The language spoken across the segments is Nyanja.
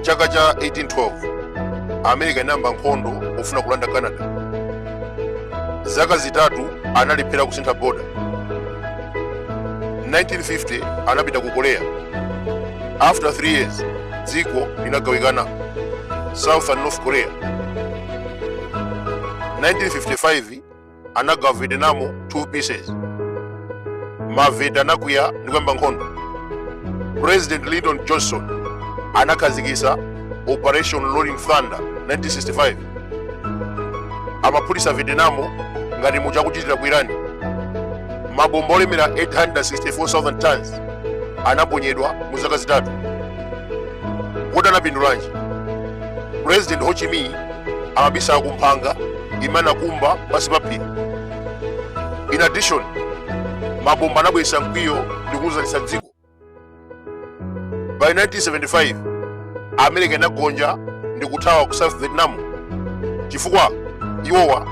chaka cha 1812 america inayamba nkhondo yofuna kulanda canada zaka zitatu analephera kusintha boda 1950 anapita ku korea after 3 years dziko linagawikana south and north korea 1955 anagawa vietnam 2 pieces ma viet anakwiya ndi kuyamba nkhondo president lyndon johnson anakhazikitsa operation rolling thunder 1965 amaphulitsa vietnam ngati muja akuchitira ku irani mabomba olemera 864,000 tons anaponyedwa mu zaka zitatu kodi anapindulanji president ho chi minh amabisala ku kumphanga imene anakumba pansi pa phiri in addition mabomba anabweretsa mkwiyo ndi kugwirizanitsa dziko by 1975 america inagonja ndi kuthawa ku south vietnam chifukwa iwowa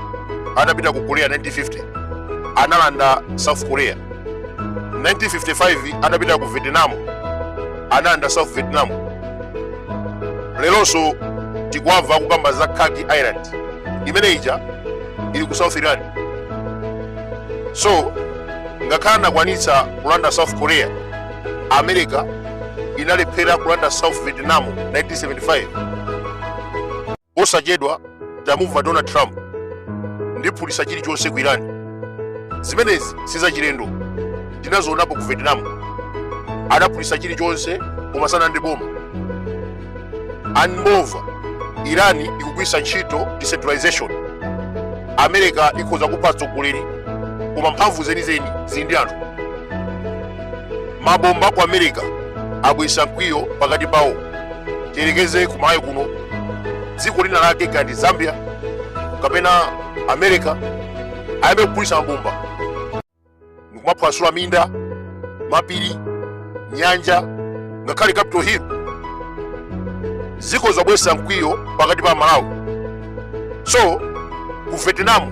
anapita ku korea 1950 analanda south korea 1955 anapita ku vietnam analanda south vietnam lelonso tikuwamva kukamba za Kharg Island imene ija ili ku South Iran so ngakhale anakwanitsa kulanda South Korea America inalephera kulanda South Vietnam 1975 Posachedwa tamumva Donald Trump ndiphulitsa chilichonse ku Iran. Zimenezi sizachilendo, tinazionapo ku Vietnam, adaphulitsa chilichonse koma sanalande boma. And moreover, Iran ikugwiritsa ntchito decentralization. America ikhoza kupha atsogoleri koma mphamvu zenizeni zili ndi anthu. Mabomba a ku America abweretsa mkwiyo pakati pawo tiyerekeze ku Malawi kuno dziko lina lake ngati zambia kapena america ayambe kuphulitsa mabomba ndikumaphwasula minda mapiri nyanja ngakhale capital hill zikhoza kubweretsa mkwiyo pakati pa amalawi so ku vietnam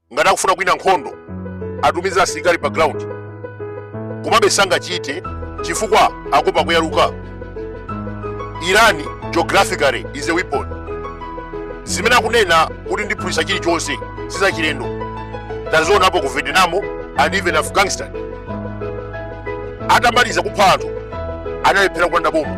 ngati akufuna kuwina nkhondo atumize asilikali pa ground komabe sangachite chifukwa akuopa kuyaluka irani geographically is a weapon zimene akunena kuti ndiphulitsa chilichonse sizachilendo tazionapo ku vietnam and even afghanistan atamaliza kupha anthu analephera kulanda boma